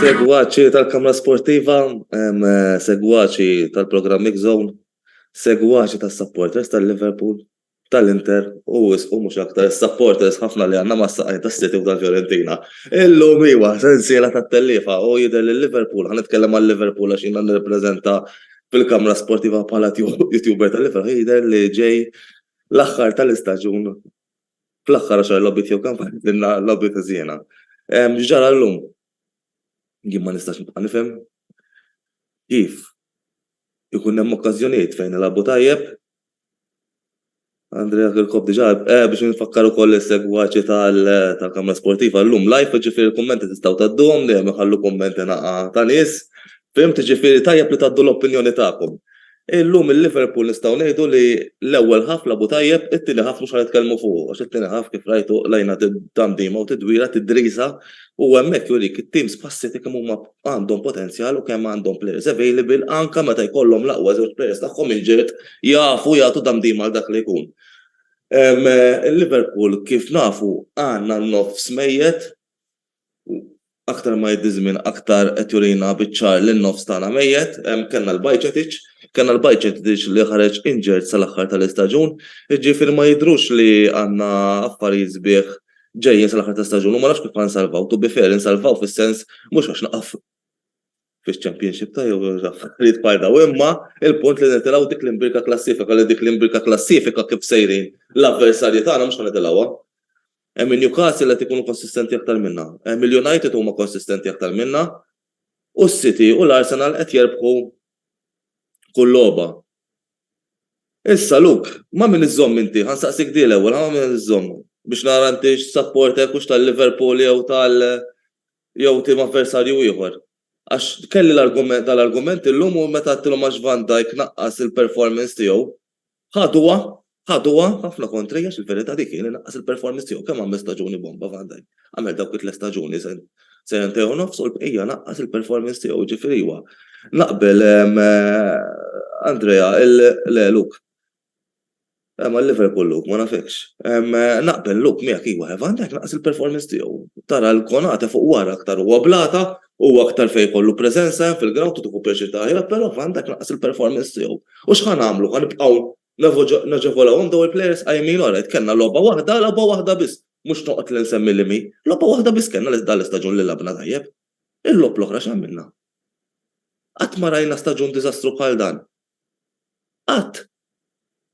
Segwaċi tal-Kamra Sportiva, segwaċi tal-programm X-Zone, segwaċi tas-supporters tal-Liverpool, tal-Inter u wisqu mhux aktar is-supporters ħafna li għandna mas-saqajn tas-City u tal-Fiorentina. Illum iwa sensiela tat-tellifa u jidher li Liverpool, ħa nitkellem għal Liverpool għax jiena nirrepreżenta fil-Kamra Sportiva bħala YouTuber tal-Liverpool, jidher li ġej l-aħħar tal-istaġun, fl-aħħar għaxar logħbiet jew kampanja għamilna logħbiet ħżiena. X'ġara llum? Jien ma nistax nibqa' nifhem kif ikun hemm okkażjonijiet fejn nilagħbu tajjeb. Andrea Kirkop diġà eh, biex nfakkar ukoll is-segwaċi tal-Kamra Sportiva llum live, ġifieri l-kummenti tistgħu tgħadduhom dejjem iħallu kummenti naqa' ta' nies. Fim tiġifieri tajjeb li tgħaddu l-opinjoni tagħkom. Illum il-Liverpool nistgħu ngħidu li l-ewwel half lagħbu tajjeb, it-tieni half mhux ħa nitkellmu fuqu għax it-tieni half kif rajtu qlajna tandima u tidwira tidriża u hemmhekk jurik it-teams bħas-City kemm huma għandhom potenzjal u kemm għandhom players available anke meta jkollhom l-aqwa żewġ players tagħhom injured jafu jagħtu tandima għal dak li jkun. Il-Liverpool kif nafu għandna n-nofs mejjet, U aktar ma jgħiddi ż-żmien aktar qed jurina biċ-ċar li n-nofs tagħna mejjet. Kellna l-Bajcetic, kellna l-Bajcetic li ħareġ injured sal-aħħar tal-istaġun, jiġifieri ma jidhrux li għandna affarijiet sbieħ ġejjin sal-aħħar tal-istaġun u ma nafx kif ħa nsalvaw. To be fair, insalvaw fis-sens mhux għax naqaf. fix-Championship ta' jew affarijiet bħal dawn imma il-punt li nitilgħu dik l-imbirka klassifika li dik l-imbirka klassifika kif sejrin l-avversarji tagħna mhux ħa nitilgħuha. Hemm in-Newcastle li qed ikunu konsistenti aktar minna. Hemm il-United huma konsistenti aktar minna u s-City u l-Arsenal qed jerbħu kull logħba. Issa Luke, ma' min iżżomm inti? Ħa nsaqsik din l-ewwel, ħa ma' min qed iżżomm? Biex nara inti x'sapporter hekk hux tal-Liverpool jew tal jew tim avversarju ieħor. Għax kelli l-argument, dal-argument illum u meta għedtilhom għax Van Dijk naqqas il-performance tiegħu, ħaduha, ħaduha ħafna kontri għax il-verità dik hi li naqqas il-performance tiegħu. Kemm għamel staġuni bomba Van Dijk? Għamel dawk it-tliet staġuni, sentejn u nofs u l-bqija naqqas il-performance tiegħu. Ġifieri iwa, naqbel Andrea, le Luke, Eh, ma Liverpool Luke, ma nafekx. Eh, naqbel Luke miegħek iwa, eh, Van Dijk naqas il-performance tiegħu. Tara l-konata fuq wara aktar huwa blata, u aktar fejn kollu preżenza fil-ground u tieħu pjaċir taħja, però Van Dijk naqas il-performance tiegħu. U x'ħan għamlu, ħan nibqgħu naġevolawhom daw il-players qajmin ora, kellna logħba waħda, logħba waħda biss, mhux noqgħod li nsemmi li mi, logħba waħda biss kellna li dal istaġun li labna tajjeb. Il-lob l-oħra x'għamilna? Qatt ma rajna staġun diżastru bħal dan. Qatt!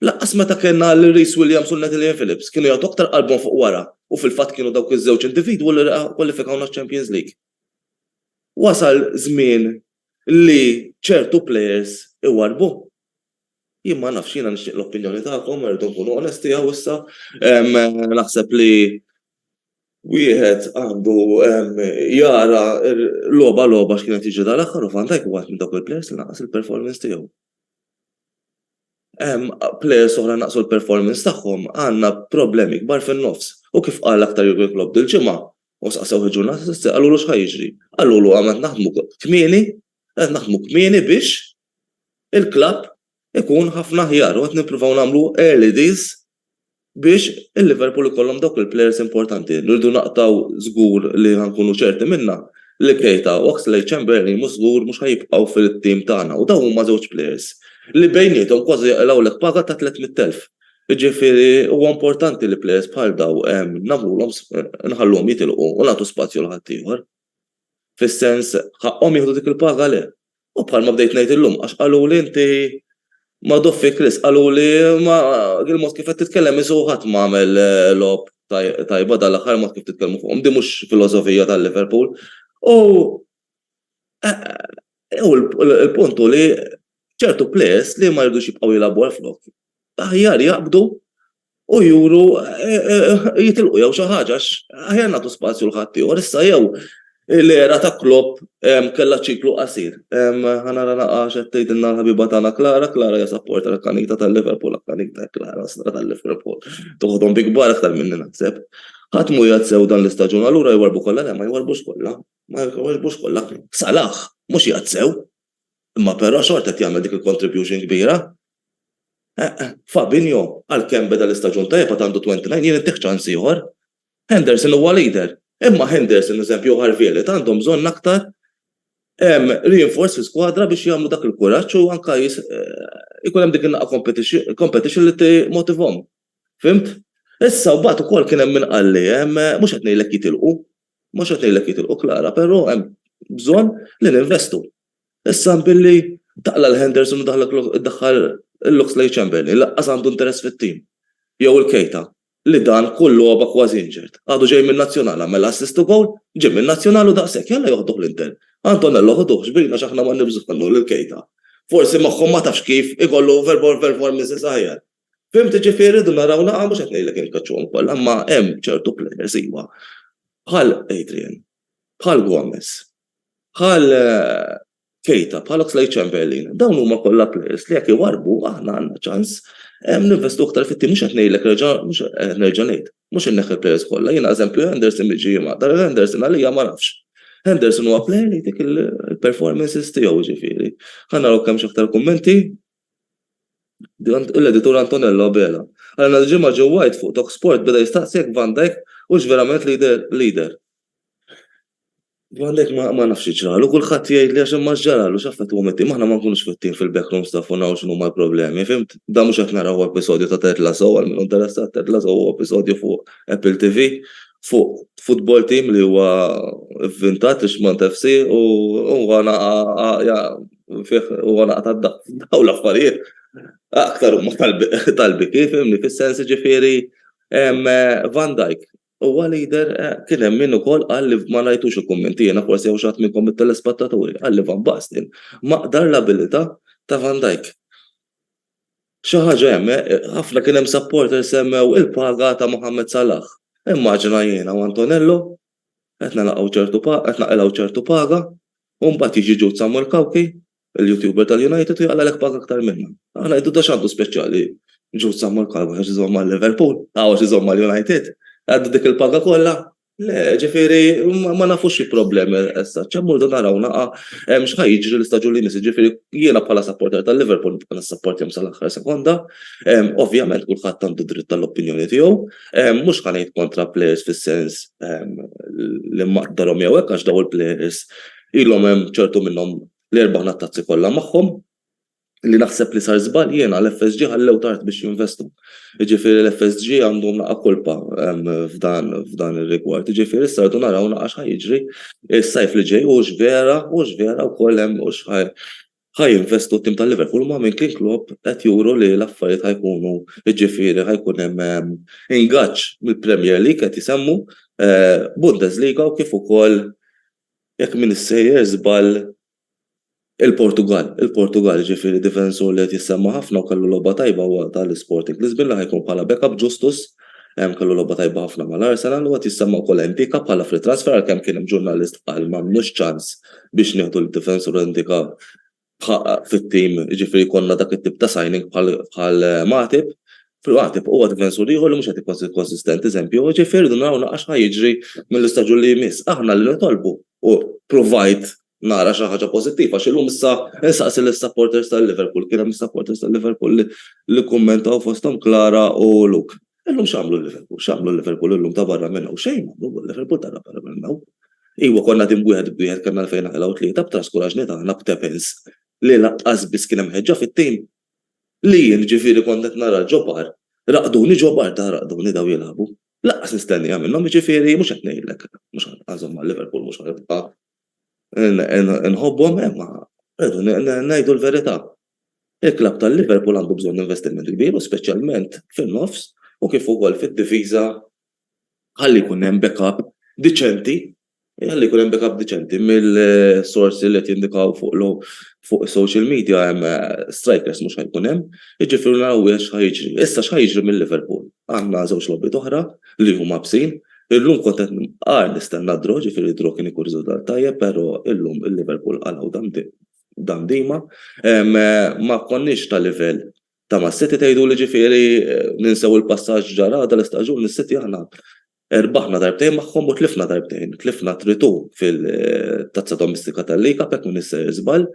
Lanqas meta kellna lil Rhys Williams u Natalie Phillips kienu jagħtu aktar qalbhom fuq wara u fil-fatt kienu dawk iż-żewġ individwu li kkwalifikawna għaċ-Champions League. Wasal żmien li ċertu plejers iwarrbu. Jien ma nafx, jiena nixtieq l-opinjoni tagħkom, irridu nkunu onesti hawn issa. Naħseb li wieħed għandu jara logħba logħba x'kien qed jiġri dal-aħħar u Van Dijk huwa minn dawk il-plejers li naqqas il-performance tiegħu. Hemm plejers oħra naqqsu l-performance tagħhom, għandna problemi kbar fin-nofs. U kif qal aktar Jurgen Klopp dil-ġimgħa, u staqsewh il-ġurnata ta' sibt, qalulu x'ħa jiġri. Qalulu għandna naħdmu kmieni, qed naħdmu kmieni biex il-klabb ikun ħafna aħjar u qed nippruvaw nagħmlu early deals biex il-Liverpool ikollhom dawk il-plejers importanti. Rridu naqtgħu żgur li ħa nkunu ċerti minnha li Keita, Oxlade-Chamberlain mhux żgur mhux ħa jibqgħu fit-tim tagħna u dawn huma żewġ plejers li bejniethom kważi joqilgħulek paga ta' 300,000. Jiġifieri huwa importanti li plejers bħal dawn nagħmluhom nħalluhom jitilqu u nagħtu spazju għal ħaddieħor. fis-sens ħaqqhom jieħdu dik il-paga le. U bħalma bdejt ngħid illum għax qaluli inti magħduf fik rizq, qaluli ma il-mod kif qed titkellem isu ħadd ma għamel eh, lob tajba dal-aħħar mod kif titkellmu fuqhom, di mhux filosofija tal-Liverpool. U eh, eh, u l-puntu li ċertu players li ma jirdux jibqgħu jilagħbu għal flok. Aħjar jaqbdu u juru jitilqu jew xi ħaġa għax aħjar nagħtu spazju l ħaddieħor issa jew l-era ta' Klopp kellha ċiklu qasir. Ħa nara naqra x'qed tgħidilna l-ħabiba tagħna Clara, Clara hija sapporter akkanita tal-Liverpool akkanita Clara stra tal-Liverpool. Toħodhom bi kbar aktar minni naħseb. Ħadd mhu qiegħed sew dan l-istaġun allura jwarrbu kollha le ma jwarrbux kollha ma jwarrbux kollha. Salah mhux qiegħed sew. Imma però xorta qed jagħmel dik il-contribution kbira. Fabinho għalkemm beda l-istaġun tajjeb għad għandu 29 jien intieh ċans ieħor. Henderson huwa leader, imma Henderson eżempju u Harvey Elliott għandhom bżonn aktar reinforce fl-iskwadra biex jagħmlu dak il-kuraġġ u anke jkun hemm dik in-naqa' competition li timmotivahom. Fhimt? Issa mbagħad ukoll kien hemm min qalli, mhux qed ngħidlek jitilqu, Mhux qed ngħidlek jitilqu Klara, però hemm bżonn li ninvestu. Issa billi taqla' 'l Henderson u ddaħħal l-Oxlade Chamberlain li lanqas għandu interess fit-tim, jew il-Keita, li dan kull logħba kważi injured, għadu ġej min-Nazzjonal, għamel assist u gowl, ġie min-Nazzjonal u daqshekk, jalla joħduh l-Inter. Antonello ħuduh, xbina għax aħna m'għandniex bżonnu lil Keita. Forsi moħħu ma tafx kif ikollu performances aħjar. Fimti ġifieri rridu naraw naqra mhux qed ngħidlek inkaċċuhom kollha imma hemm ċertu players iva bħal Adrian, bħal Gomez, bħal Keita, bħal Oxlade Chamberlain, dawn huma kollha players li jekk iwarbu aħna għandna ċans ninvestu aktar fit-tim mhux qed ngħidlek reġa' mhux qed nerġa' ngħid. Mhux inneħħi players kollha, jiena eżempju Henderson li ġie jimgħadda, Henderson għalija ma nafx. Henderson huwa player li jtik il-performances tiegħu ġifieri. Ħa naraw kemm x'aktar kummenti. l-editur Antonello Abela. Għal nhar il-Ġimgħa Joe White fuq Talksport beda jistaqsi jekk Van Dijk hux verament leader. Van Dijk ma nafx xi ġralu, kulħadd jgħidli għax imma x'ġaralu, x'affettwahom it-tim, aħna ma nkunux fit-tim fil-backroom staff u naraw x'inhuma l-problemi, fimt? Dan mhux qed naraw hu episodju ta' Ted Lasso, għal min hu interessat, Ted Lasso hu episodju fuq Apple TV fuq futbol team li huwa vvintat, Richmond FC, u huwa fih u għana ta' daw l-affarijiet, aktar u tal-bi kif, imni fil-sens ġifiri, Van Dijk, u għal-lider eh, kien hemm min ukoll qal li ma rajtux il-kummenti jiena forsi jew xatt minnkom mit-telespattaturi qal li Van Basten maqdar l-abilità ta' Van Dijk. Xi ħaġa hemm eh, ħafna kien hemm supporter semmew il-paga ta' Mohammed Salah. Immaġina jiena u Antonello qed nilaqgħu ċertu pa qed naqilgħu ċertu paga u mbagħad jiġi Jude Samuel Cauchi, il-YouTuber tal-United u jaqlagħlek paga aktar minnha. Aħna ngħidu da x'għandu speċjali Jude Samuel Cauchi għax iżomm ma' Liverpool, aw għax iżomm ma' United, għandu dik il-paga kollha? Le, ġifieri ma nafux xi problemi issa, ċemmu rridu naraw naqa' x'ħa jiġri l-istaġun li jmiss, ġifieri jiena bħala sapporter tal-Liverpool nibqa' nissapportihom sal-aħħar sekonda, ovvjament kulħadd għandu dritt tal-opinjoni tiegħu. Mhux ħa ngħid kontra plejers fis-sens li maqdarhom jew hekk għax daw il-plejers ilhom hemm ċertu minnhom l-erba' ħna tazzi kollha magħhom li naħseb li sar żball jiena l-FSG ħallew tard biex jinvestu. Ġifieri l-FSG għandhom naqa' kolpa f'dan f'dan ir-rigward. Ġifieri issa rdu naraw naqa' x'ħa jiġri s-sajf li ġej hux vera hux vera wkoll hemm hux ħa jinvestu t-tim tal-Liverpool ma' minn kien Klopp qed juru li l-affarijiet ħa jkunu jiġifieri ħa jkun hemm ingaġġ mill-Premier League qed isemmu Bundesliga u kif ukoll jekk m'iniex sejjer żball il-Portugall il-Portugall jiġifieri difensur li qed jissemma' ħafna u kellu logħba tajba huwa tal-Sporting Lisbin li ħa jkun bħala backup Justus Hemm kellu logħba tajba ħafna mal-Arsenal u qed jissemma wkoll Ndicka bħala free transfer għalkemm kien hemm ġurnalist qal m'għandniex ċans biex nieħdu l-difensur Ndicka fit-tim, jiġifieri jkollna dak it-tip ta' signing bħal Matip. Matip huwa difensur ieħor li mhux qed ikun konsistenti eżempju, jiġifieri rridu naraw naqra x'ħa jiġri mill-istaġun li jmiss. Aħna li nitolbu u provajt nara xi ħaġa pożittiva għax illum issa insaqsi lis-supporters tal-Liverpool, kien hemm supporters tal-Liverpool li li kkummentaw fosthom Clara u Luke. Illum x'għamlu l-Liverpool? X'għamlu l-Liverpool illum ta' barra minn hawn? Xejn ma għamlu l-Liverpool ta' barra minn hawn. Iwa konna tim wieħed b'wieħed kellna fejn naqilgħu tlieta b'traskuraġni tagħna b'tepins li lanqas biss kien hemm ħeġġa fit-tim. Li jien ġifieri kont qed nara ġo bar, raqduni ġo bar ta' raqduni daw jilagħbu. Lanqas nistenniha minnhom jiġifieri mhux qed ngħidlek mhux ħa nżomm ma' Liverpool mhux ħa nibqa' Inħobbhom, imma rridu ngħidu l-verità. Il-klabb tal-Liverpool għandu bżonn investiment kbir u speċjalment fin-nofs u kif ukoll fid-difiża ħalli jkun hemm backup diċenti, ħalli jkun hemm backup diċenti mill-sorsi li qed jindikaw fuq is-social media hemm strikers mhux ħa jkun hemm, jiġifieri naraw x'ħa jiġri. Issa x'ħa jiġri mil-Liverpool? Għandna żewġ logħbiet oħra li huma bsin, Illum kont qed nqar nistenna d-draw, ġifieri d-draw kien ikun riżultat tajjeb però illum il-Liverpool qalgħu dan dima. Ma konniex ta' livell ta' mas-City tgħiduli ġifieri ninsew il-passaġġ ġara dan l-istaġun mis-City aħna rbaħna darbtejn magħhom u tlifna darbtejn. Tlifna t-tritù fil-Tazza Domistika tal-League Cup jekk m'iniex sejjer żball,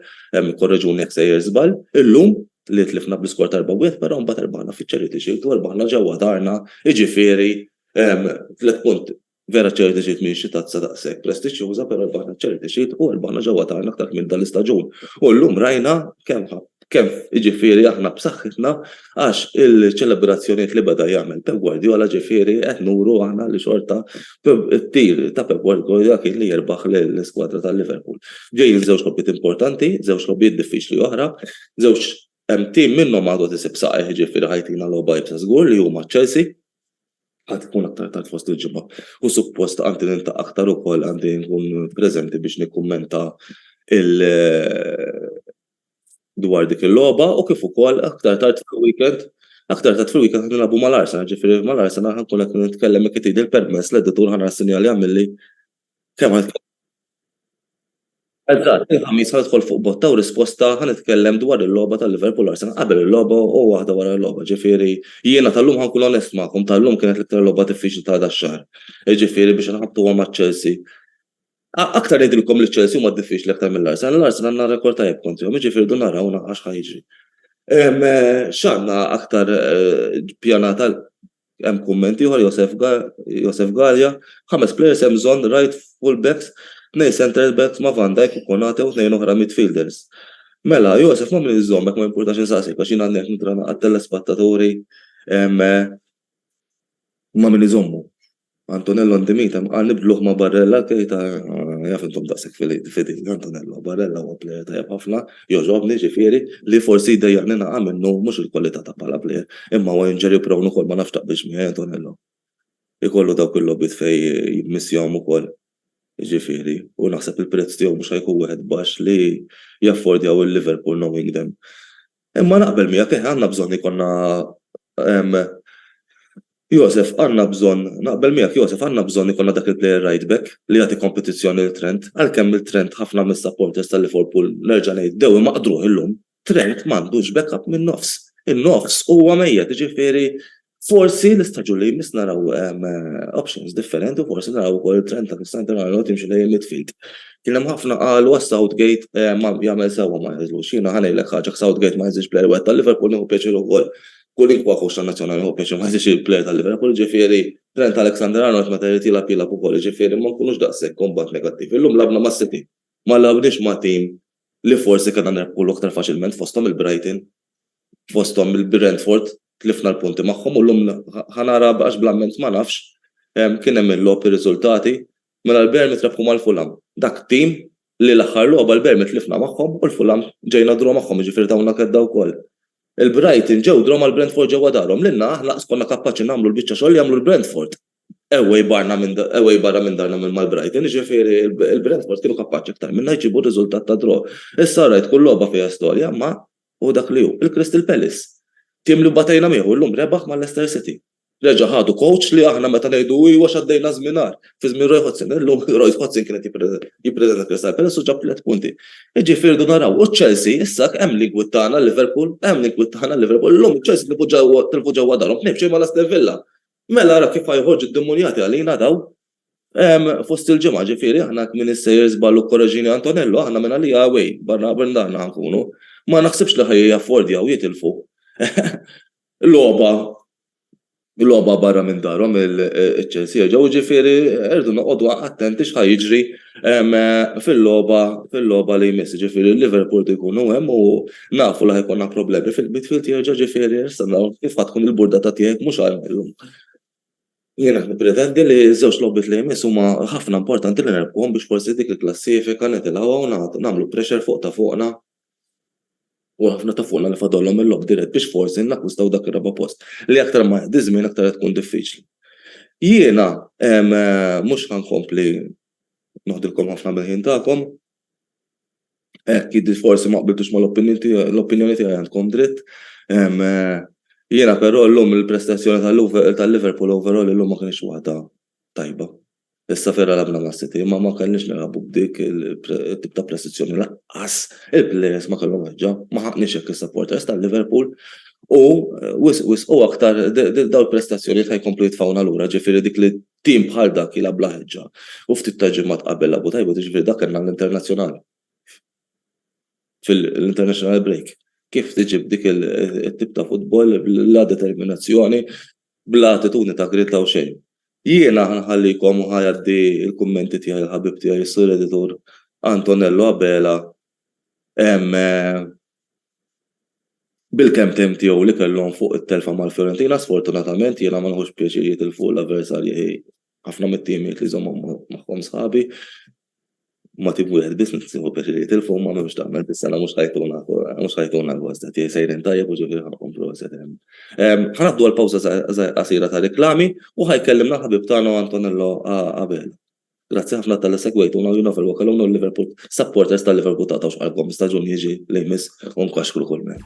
korreġuni jekk sejjer żball, illum li tlifna bl-iskor ta' 4-1 però mbagħad rbaħna fiċ-Charity Shield u rbaħna ġewwa darna, jiġifieri Tliet punt, vera Charity Shield mhijiex xi tazza daqshekk prestiġġjuża, però rbaħna Charity Shield u rbaħna ġewwa darna aktar kmieni dan l-istaġun. U llum rajna kemm kemm jiġifieri aħna b'saħħitna għax il-ċelebrazzjonijiet li beda jagħmel Pep Guardiola ġifieri qed nuru aħna li xorta t-tir ta' Pep Guardiola kien li jirbaħ l-iskwadra tal-Liverpool. Ġejjin żewġ logħbiet importanti, żewġ logħbiet diffiċli oħra, żewġ tim minnhom għadu tisib saqajh ġifieri ħajtina logħba iebsa żgur li huma Chelsea Għad tkun aktar tard fost il-ġimgħa u suppost għandi niltaqa' aktar ukoll għandi nkun preżenti biex nikkummenta il dwar dik il-logħba u kif ukoll aktar tard fil-weekend aktar tard fil-weekend qed nilagħbu mal-Arsenal, ġifieri mal-Arsenal ħankun qed nitkellem hekk irid il-permess l-editur ħanara sinjal jagħmilli Kemm għal kemm. Eżatt, il-Ħamis ħa nidħol fuq botta u risposta ħa nitkellem dwar il-logħba ta' Liverpool Arsenal qabel il-logħba u waħda wara l-logħba. Ġifieri jiena tal-lum ħa nkun onest magħkom, tal-lum kienet l-iktar logħba diffiċli ta' dax-xahar. Jiġifieri biex inħabtuha ma' Chelsea. Aktar ngħidilkom li Chelsea huma diffiċli aktar mill-Arsenal, l-Arsenal għandna rekord tajjeb kontrihom, jiġifieri rridu naraw naqra x'ħa jiġri. X'għandna aktar ppjanat għal Hemm kumment ieħor Josef Galea, Ħames players hemm bżonn, right full backs, tnejn centre backs ma' Van Dijk u Konate u tnejn oħra midfielders. Mela, Josef ma' min iżżomm hekk ma jimpurtax insaqsik għax jien għadni qed nitrana għat-telespattaturi ma' min iżommu. Antonello Ndimita ma qal nibdluh ma' Barella, Keita jaf intom daqshekk fidili, Antonello, Barella huwa plejer tajjeb ħafna, jogħġobni, ġifieri, li forsi jdejjaqni naqa' minnu mhux il-kwalità ta' bħala plejer, imma huwa injury prone ukoll ma nafx taqbilx miegħi Antonello. Ikollu dawk il-logħbiet fejn jmissjahom ukoll, ġifieri, u naħseb il-prezz tiegħu mhux ħa jkun wieħed baxx li jaffordjaw il-Liverpool knowing them. Imma naqbel miegħek, eħe għandna bżonn ikollna Josef, għandna bżonn, naqbel miegħek Josef, għandna bżonn ikollna dak il-player right back li jagħti kompetizzjoni lil Trent, għalkemm lil Trent ħafna mis-supporters ta' Liverpool nerġa' ngħid bdew imaqdruh illum, Trent m'għandux backup min-nofs. In-nofs huwa mejjet, jiġifieri Forsi l-istaġun li jmiss naraw options differenti u forsi naraw ukoll it-trend ta' Cristiano Ronaldo timxi lejn midfield. Kien hemm ħafna qalu għas Southgate ma jagħmel sewwa ma jeżlux. Jiena ħa ngħidlek ħaġa Southgate ma jeżlix player wieħed tal-Liverpool nieħu pjaċir ukoll. Kwalinkwa coach tan-nazzjonali nieħu pjaċir ma jeżlix il-player tal-Liverpool, jiġifieri Trent Alexander-Arnold meta jrid jilgħab jilgħab ukoll, jiġifieri ma nkunux daqshekk imbagħad negattivi. Illum lagħabna mas-City, ma lagħabniex ma' team li forsi kellna nerbħulu aktar faċilment fosthom il-Brighton. fosthom il-Brentford tlifna l-punti magħhom u llum ħa nara għax bl-amment ma nafx kien hemm il-logħob ir-riżultati mela l-Bermit rebħu mal-Fulham. Dak tim li l-aħħar logħba l-Bermit tlifna magħhom u l-Fulham ġejna draw magħhom jiġifieri tawna kedda wkoll. Il-Brighton ġew draw mal-Brentford ġewwa darhom lilna aħna laqas konna kapaċi nagħmlu l-biċċa xogħol li għamlu l-Brentford. away barna minn away barra minn darna minn mal-Brighton, ġifieri il-Brentford kienu kapaċi aktar minna jġibu riżultat ta' draw. Issa rajt kull logħba fiha storja, ma hu dak li hu. Il-Crystal Palace, tim li batejna miegħu llum rebaħ ma' Leicester City. Reġa' ħadu coach li aħna meta ngħidu hu iwa x'għaddejna żmien agħar, fi żmien Roy Hodgson, illum Roy Hodgson kien qed jippreżenta Crystal Palace u ġab tliet punti. Iġifieri rdu naraw. U Chelsea issa hemm li jgwittana Liverpool, hemm li jgwittana Liverpool. Illum Chelsea tilfu ġewwa tilfu ġewwa darhom tnejn b'xejn mal-Aston Villa. Mela ara kif ħa joħorġu d-demonjati għalina daw fost il-ġimgħa, ġifieri aħna hekk min issejjer żball u korreġini Antonello, aħna minn għalija away, barra minn dan ħa nkunu. Ma naħsibx li ħa jaffordjaw jitilfu logħba logħba barra minn darhom iċ-Chelsea, ġifieri rridu noqogħdu attenti x'ħa jiġri fil-logħba fil-logħba li jmiss ġifieri Liverpool ikunu hemm u nafu li ħajkonna problemi fil-midfield jerġa' ġifieri issa kif ħadd tkun il-burdata tiegħek mhux għal illum. Jiena nippretendi li żewġ logħbiet li jmiss huma ħafna importanti li nerbħuhom biex forsi dik il-klassifika nitilgħuha u nagħmlu pressure fuq ta' fuqna u ħafna ta' fuqna li fadalhom il-logħob dirett biex forsi nakkwistaw dak ir-raba' post li aktar ma jgħaddi ż-żmien aktar qed tkun diffiċli. Jiena mhux ħa nkompli noħdilkom ħafna mill-ħin tagħkom. Hekk jidhri forsi ma qbiltux mal-opinjoni tiegħi għandkom dritt. Jiena però llum il-prestazzjoni tal-Liverpool overall illum ma kinitx waħda tajba. Issa fir għalabna ma' City imma ma kellniex nilagħbu b'dik it-tip ta' presizzjoni lanqas il-plejers ma kellhom ħeġġa. Ma ħaqniex hekk is-supporters ta' Liverpool u wisq wisq u aktar dawn il-prestazzjonijiet ħa jkomplu jitfgħuna lura ġifieri dik li tim bħal dak jilgħab bla ħeġġa u ftit ta' ġimgħat qabel lagħbu tajjeb u jiġifieri dak kellna l-internazzjonal fil-international break kif tiġi b'dik it-tip ta' futbol bla determinazzjoni bla attitudni ta' gried la' u xejn. Jiena ħa nħallikom u ħa ngħaddi l-kummenti tiegħi lill-ħabib tiegħi s-Sur Editur Antonello Abela bil-kemmtejn tiegħu li kellhom fuq it-telfa mal-Fiorentina. Sfortunatament jiena ma nieħux pjaċir jitilfu l-avversarji ħafna mit-timijiet li żommhom magħhom sħabi. ma tim wieħed biss nista' nieħu pjaċir jgħid il-fuq ma m'hemmx tagħmel biss għala mhux ħajtuna mhux ħajtuna gost qed jgħid sejrin tajjeb u ġifieri ħanqum proset. Ħanaddu għal pawża qasira ta' riklami u ħajkellimna l-ħabib tagħna Antonello Abela. Grazzi ħafna tal-li segwejtuna u jien nofel wakaluna u l-Liverpool supporters tal-Liverpool taqtgħux qalbkom staġun jiġi li jmiss u nkaxkru kull mejn.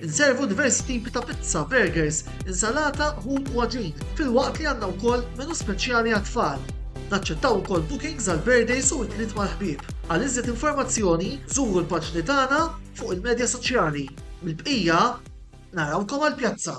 Inservu diversi tipi ta' pizza, burgers, insalata, ħut u għaġin, filwaqt li għandna wkoll menu speċjali għat-tfal. Naċċettaw ukoll bookings għal birthdays u għitliet mal-ħbieb. Għal iżjed informazzjoni, żuru l-paġni tagħna fuq il-medja soċjali. Mill-bqija, narawkom għall-pjazza!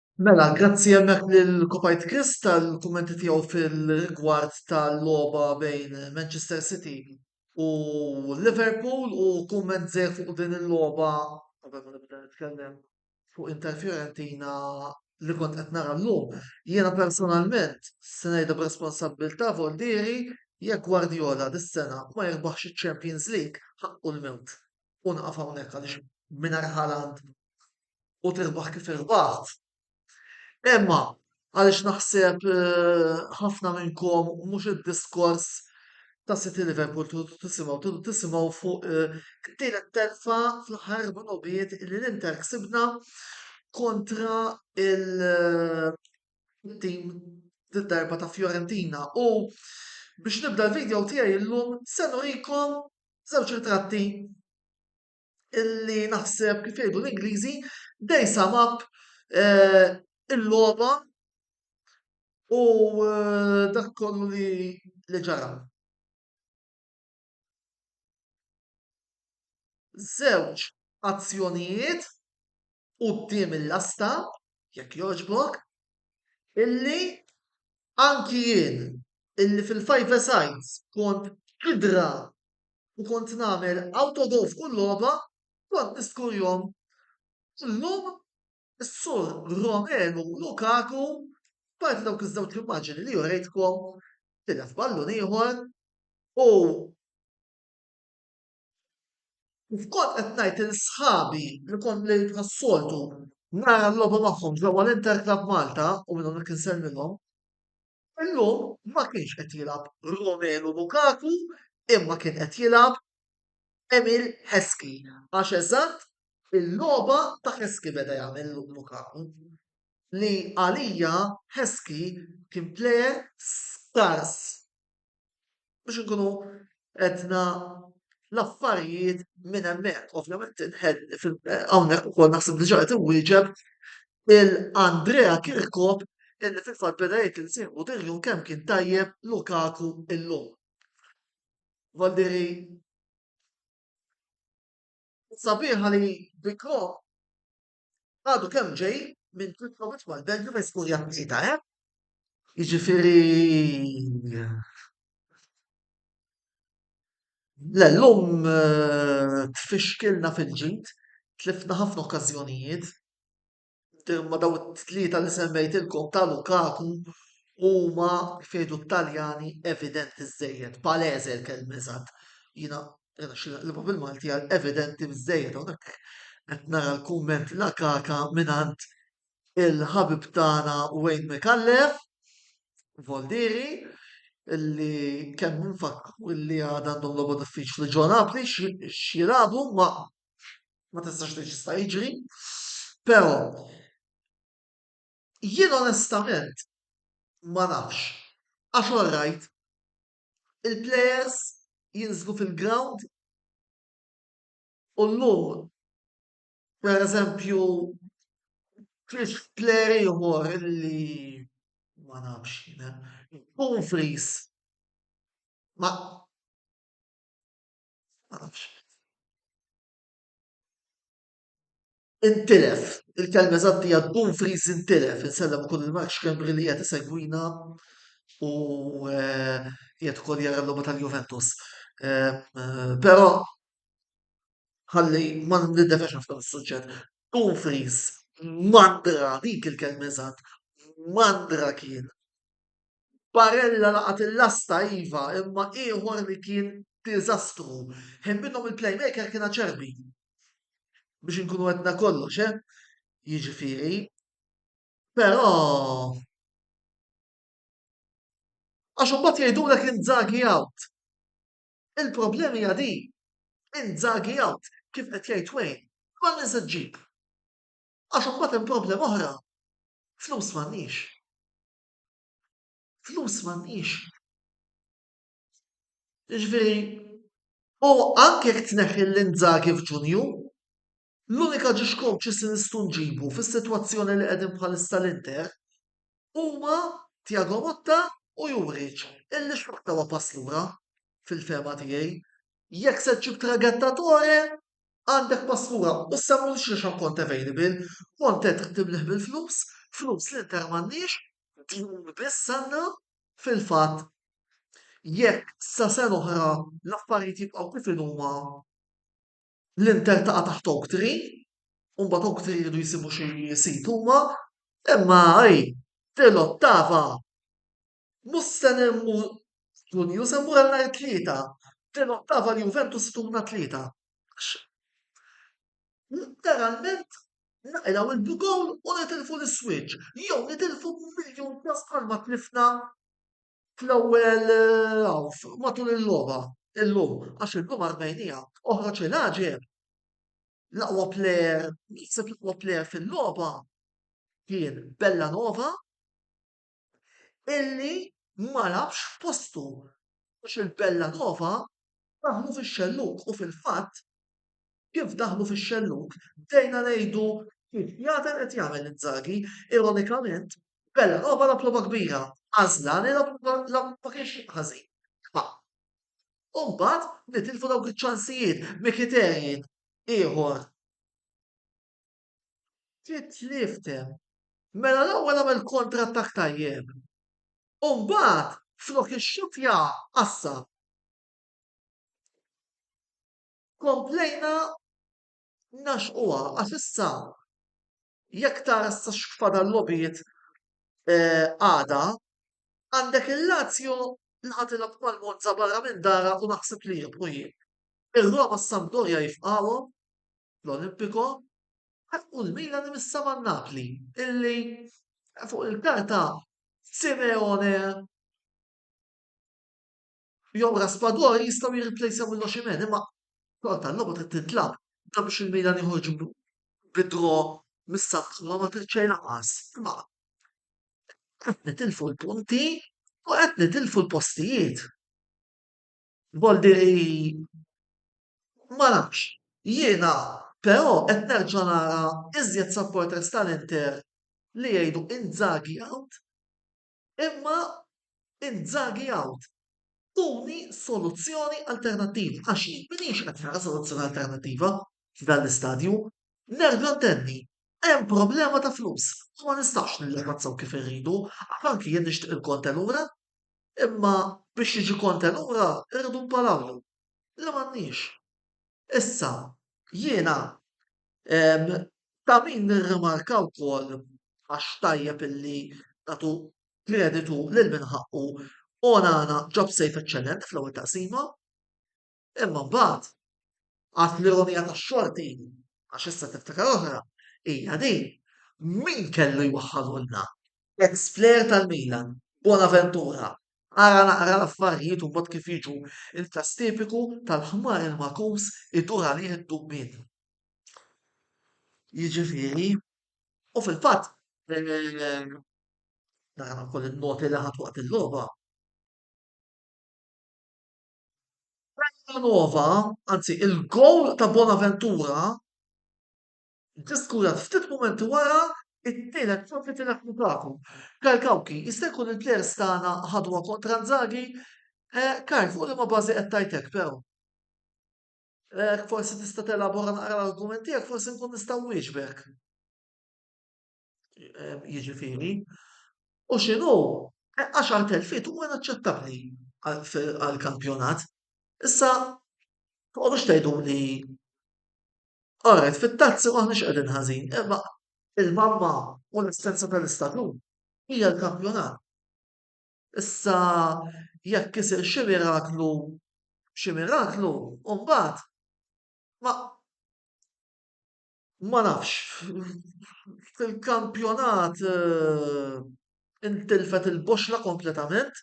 Mela, grazzi hemmhekk lil Kopajt Chris tal-kummenti tiegħu fil-rigward tal-logħba bejn Manchester City u Liverpool u kumment żejr fuq din il-logħba qabel ma nibda nitkellem fuq Inter Fiorentina li kont qed nara llum. Jiena personalment se ngħidha b'responsabbiltà Voldieri jekk Guardiola dis-sena ma jirbaħx iċ-Champions League ħaqqu l-mewt. U nieqaf hawnhekk għaliex mingħajr Haaland u tirbaħ kif irbaħt. Imma għaliex naħseb ħafna minnkom mhux id-diskors ta' City Liverpool tridu tisimgħu, tridu tisimgħu fuq din it-telfa fl-aħħar minubiet li l-Inter ksibna kontra il- tim darba ta' Fiorentina u biex nibda l-video tiegħi llum se nurikom żewġ ritratti illi naħseb kif jgħidu l-Ingliżi they sum up eh, il-logħba u eh, dak kollu li li ġara. Żewġ azzjonijiet quddiem il-lasta, jekk jogħġbok, illi anki jien illi fil-five sides kont idra u kont nagħmel autogol f'kull logħba, kont niskurjhom. Illum is-Sur Romelu Lukaku, apparti dawk iż-żewġ immaġini li urejtkom, tilef ballun ieħor u kif kont qed ngħid lil sħabi li kont li bħas-soltu nara nlogħobu magħhom ġewwa l-Inter Club Malta u minn hawnhekk insellmilhom, Illum ma kienx qed jilgħab Romelu Lukaku imma kien qed jilgħab Emil Heskey għax eżatt il-logħba ta' Heskey beda jagħmel Lukaku li għalija Heskey kien plejer skars. biex inkunu qedna l-affarijiet minn hemmhekk. Ovvjament hawnhekk ukoll naħseb diġà qed inwieġeb il-Andrea Kirkop illi fil-fatt beda jgħid li sieħbu Diljun kemm kien tajjeb Lukaku illum. Valdiri sabiħa li bikrom Għadu kemm ġej minn tliet logħbiet mal-Belġju fejn skurjat tlieta, eh? Jiġifieri Le llum eh, tfixkilna fil-ġid, tlifna ħafna okkażjonijiet. Ma daw it-tlieta li semmejtilkom ta' Lukaku huma fejdu t-Taljani evidenti żejjed, palese l-kelma eżatt. Jiena Jena xi naqlibha bil-Malti għal evidenti bżejjed hawnhekk qed nara l-kumment la kaka mingħand il-ħabib tagħna Wayne Micallef, Voldieri, illi kemm nfakkru illi għad għandhom logħba diffiċli ġo Napli x'jilagħbu ma ma tistax tgħid x'jista' jiġri. Però jien onestament ma nafx għax orrajt il-plejers jinżlu fil-grawnd u llum pereżempju tlifx plejer ieħor li ma nafx jien hemm, Dumfries ma nafx. Intilef, il-kelma eżatt hija Dumfries intilef, insellem ukoll lil Mark Schembri li qiegħed isegwina u eh, qiegħed ukoll jara l-logħba tal-Juventus. Eh, però ħalli ma nindefex ħafna mis-suġġett. Dumfries mandra dik il-kelma eżatt, mandra kien. Barella laqat il-lasta iva, imma ieħor li kien diżastru. Ħin minnhom il-playmaker kien aċerbi. biex inkunu għedna kollox, eh? Jiġifieri, però għax imbagħad jgħidulek inzagi out. Il-problema hija di, inzagi out, kif qed jgħid Wayne, ma li se ġġib. Għax imbagħad hemm problema oħra, flus m'għandniex. Flus m'għandniex. Jiġifieri, u anke jekk tneħħi lil Inzaghi f'Ġunju, l-unika ġiex coaches li nistgħu nġibu fis-sitwazzjoni li qegħdin bħalissa l-Inter huma Thiago Motta u Juric, illi xorta huwa pass lura, fil-fehma tiegħi. Jekk se ġġib traghettatore, għandek pass lura u semmu lil xiex għal Conte available. Conte trid timlieh bil-flus, flus l-Inter m'għandhiex din biss sena fil-fatt jekk sa sena oħra l-affarijiet jibqgħu kif inhuma l-Inter taqa' taħt Oaktree u mbagħad Oaktree jridu jsibu xi sit huma, imma hi din l-ottava mhux se mmur f'Ġunju se mmur għal nhar it-Tlieta, din l-ottava l-Juventus se tmur nhar it-Tlieta. Letteralment naqilgħu l-bidon u nitilfu l-iswiċċ jew nitilfu miljun każ bħalma tlifna fl-ewwel half matul il-logħba illum għax illum Armenija oħroġ il-għaġeb l-aqwa plejer, naħseb l-aqwa plejer fil-logħba kien Bellanova illi ma labx f'postu għax il-Bellanova daħlu fix-xellug u fil-fatt kif daħlu fix-xellug bdejna ngħidu kif jagħdel qed jagħmel Inzaghi, ironikament Bellanova lagħab logħba kbira, Asllani ma kienx xejn ħażin. Imma u mbagħad nitilfu dawk iċ-ċansijiet, Mkhitaryan ieħor Trid niftem. Mela l-ewwel għamel counter-attack tajjeb. U mbagħad flok ixxuttja qassab. Komplejna naxquha għax issa jekk tara issa x'fadal logħbiet għada, għandek il-Lazio li ħa tilgħab mal-Monza barra minn darha u naħseb li jirbħu jien. Ir-Roma s-Sampdoria jifqagħuhom fl-Olimpico u l-Milan imissa ma' Napli illi fuq il-karta Simeone jew Raspador jistgħu jirriplejsaw il-Oximen imma xorta l-logħba trid tintlab dan biex il-Milan joħorġ bidro mis-saħħa ma ma trid xejn lanqas. Imma qed nitilfu l-punti u qed nitilfu l-postijiet. Jgħolli li ma nafx. Jiena però qed nerġa' nara iżjed supporters tal-Inter li jgħidu Inzaghi out imma Inzaghi out. Tuni soluzzjoni alternattiva għax jien m'iniex qed nara soluzzjoni alternattiva f'dan l-istadju. Nerġa' ntenni, hemm problema ta' flus u ma nistgħux nillimazzaw kif irridu għax anki jien nixtieq il-Conte lura Imma biex jiġi Conte lura irridu npalawlu, li m'għandniex. Issa, jiena ta' min nirrimarka wkoll, għax tajjeb illi nagħtu kreditu lil min ħaqqu, Onana ġab save eċċellenti fl-ewwel taqsima. Imma mbagħad għad l-ironija tax-xorti, għax issa tiftakar oħra, hija din, min kellu jwaħħalulna? Ex-plejer tal-Milan, Bonaventura, ara naqra l-affarijiet u mbagħad kif jiġu l-każ tipiku tal-ħmar il-magħkus idur għalih id-dubien. Jiġifieri, u fil-fatt, nara wkoll in-noti li ħadt waqt il-logħba, Terra Nova, anzi il-gowl ta' Bonaventura ġie skurat ftit mumenti wara t-tielet ċans li tilef minn Kaku. Karl Kawki, jista' jkun il-plejers tagħna ħaduha kontra Inzaghi? Eh, Karl, fuq liema bażi qed tgħid hekk però? Jekk forsi tista' telabora naqra l-argument tiegħek forsi nkun nista' nwieġbek. eh, jiġifieri, u x'inhu 10,000 fit huwa inaċċettabbli għall-kampjonat. Issa, toqgħodux tgħidu li Alright, fit-tazzi maħniex qegħdin ħażin, imma il-mamma u l-istenza tal-istatut hija l-kampjonat. Issa jekk isir xi miraklu xi miraklu, u mbagħad ma Ma nafx, fil-kampjonat intilfet il-boxxla kompletament.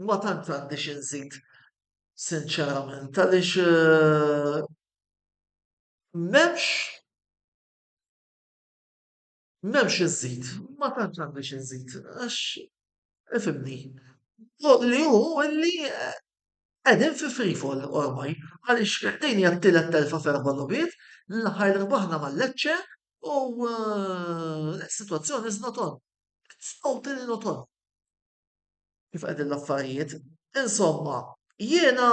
Ma tantx għandi xi nżid sinċerament għaliex m'hemmx. M'hemm xi nżid, ma tantx għandi xi nżid għax ifhimni. Dak li hu li qegħdin fi free fall ormai għaliex din hija t-tielet telfa f'erba' logħbiet, l-aħħar rbaħna ma' Lecce u s-sitwazzjoni is not on. It's totally not on kif qegħdin l-affarijiet. Insomma, jiena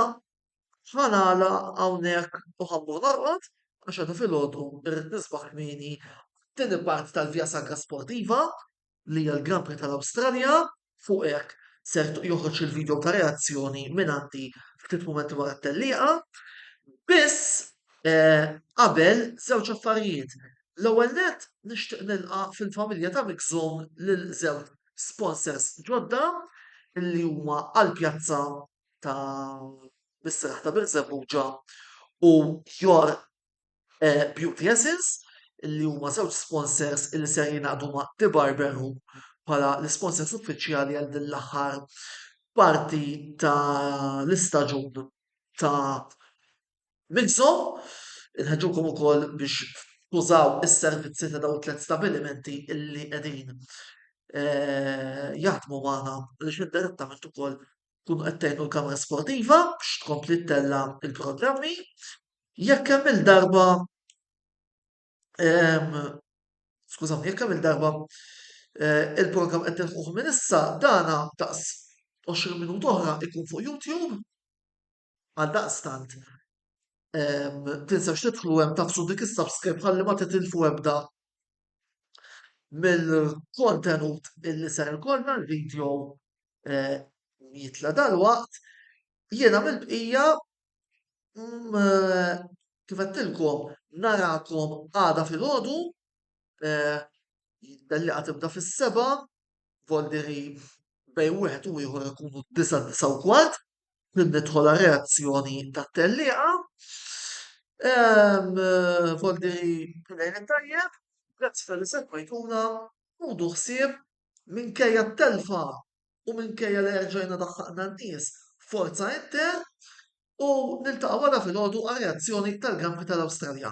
Ħa nagħlaq hawnhekk u ħa mmur norqod għax għada filgħodu rrid nisbaħ kmieni għat-tieni parti tal-Via Sacra Sportiva li hija l-Grand Prix tal-Awstralja. Fuq hekk ser joħroġ il-video ta' reazzjoni minn għandi ftit mumenti wara t-tellieqa. Biss eh, qabel żewġ affarijiet. L-ewwel nett nixtieq nilqa' fil-familja ta' Mixum lil żewġ sponsors ġodda li huma għall-pjazza ta' mis-seraħ ta' Birżebbuġa u Your eh, Beauty Essence li huma żewġ sponsors li ser jingħaqdu ma' The Barber Room bħala l-sponsors uffiċjali għal din l-aħħar parti ta' l-istaġun ta' Mixo. Inħeġġukom ukoll biex tużaw is-servizzi ta' daw it-tliet stabilimenti illi qegħdin eh, jaħdmu magħna li xi direttament ukoll tkunu qed tgħinu l-Kamra Sportiva biex tkompli ttella' l-programmi. Jekk kemm il-darba ehm, skużawni, jekk kemm il-darba eh, il-programm qed nilħuh minn issa, dana daqs 20 minut oħra ikun fuq YouTube. Għaldaqstant, tinsewx tidħlu hemm tafsu dik is-subscribe ħalli ma titilfu ebda mill-kontenut illi ser ikollna l-video eh, jitla dal-waqt. Jiena mill-bqija mm, eh, kif għattilkom narakom għada fil-ħodu eh, dalli għatibda fis-seba, voldiri bej wieħed u ieħor ikunu disa disa u kwart, F'din nidħol għar-reazzjoni tat-tellieqa. Volderi lejn it-tajjeb, grazzi tal-li segwejtuna, ħudu ħsieb minkejja t-telfa u minkejja li erġajna daħħaqna n-nies forza Inter u niltaqgħu għada filgħodu għar-reazzjoni tal-Grand Prix tal-Awstralja.